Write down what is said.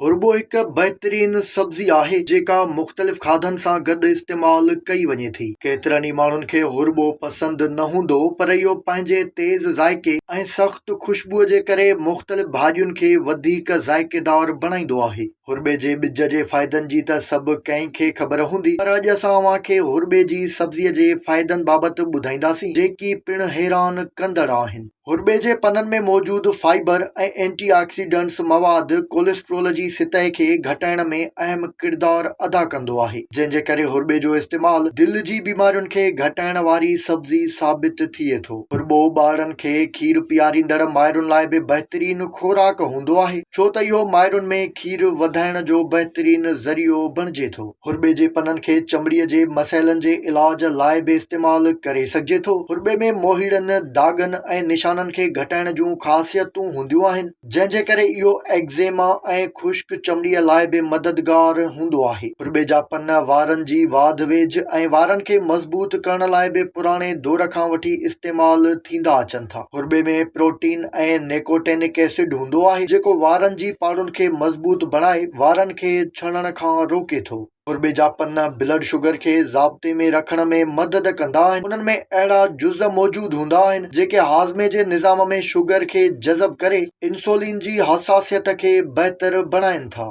هرٻو هڪ بهترين سبزي آهي جيڪا مختلف کاڌن سان گڏ استعمال ڪئي وڃي ٿي. ڪيترن ئي ماڻهن کي هرٻو پسند نه هوندو پر اهو پنهنجي تيز ذائقي ۽ سخت خوشبوء جي ڪري مختلف ڀاڄين کي وڌيڪ ذائقيدار بڻائيندو آهي. هرٻي جي ٻج جي فائدن جي ته سڀ ڪنهن کي خبر هوندي پر اڄ اسان اوهان کي هرٻي جي سبزي جي فائدن بابت ٻڌائينداسين جيڪي پڻ حيران ڪندڙ آهن. هرٻي جي پنن ۾ موجود فائبر ۽ اينٽي آڪسيڊنٽس مواد ڪوليسٽرول جي سطح کي گهٽائڻ ۾ اهم ڪردار ادا ڪندو آهي، جنهن جي ڪري هرٻي جو استعمال دل جي بيمارين کي گهٽائڻ واري سبزي ثابت ٿئي ٿو. هرٻو ٻارڙن کي کير پياريندڙ مائرن لاء به بهترين خوراڪ هوندو آهي، ڇو ته اهو مائرن ۾ کير وڌائڻ جو بهترين ذريعو بڻجي ٿو. هرٻي جي پنن کي چمڙي جي مسئلن جي علاج لاء به استعمال ڪري سگهجي ٿو. هرٻي ۾ موهيڙن، داغن ۽ نشانن کي گهٽائڻ جون خاصيتون هونديون آهن، جنهن جي ڪري اهو ايگزيما ۽ خشڪ چمڙي لاء به مددگار هوندو آهي. هرٻي جا پن وارن جي واڌ ويجهه ۽ وارن کي مضبوط ڪرڻ لاء به پراڻي دور کان وٺي استعمال ٿيندا اچن ٿا. هرٻي ۾ پروٽين ۽ نيڪوٽينڪ ايسڊ هوندو آهي، جيڪو وارن جي پاڙن کي مضبوط بڻائي وارن کي ڇڻڻ کان روڪي ٿو. ڪوربي جا پن بلڊ شگر کي ضابطي ۾ رکڻ ۾ مدد ڪندا آهن. انهن ۾ اهڙا جز موجود هوندا آهن جيڪي هاضمي جي نظام ۾ شگر کي جذب ڪري انسولين جي حساسيت کي بهتر بڻائين ٿا.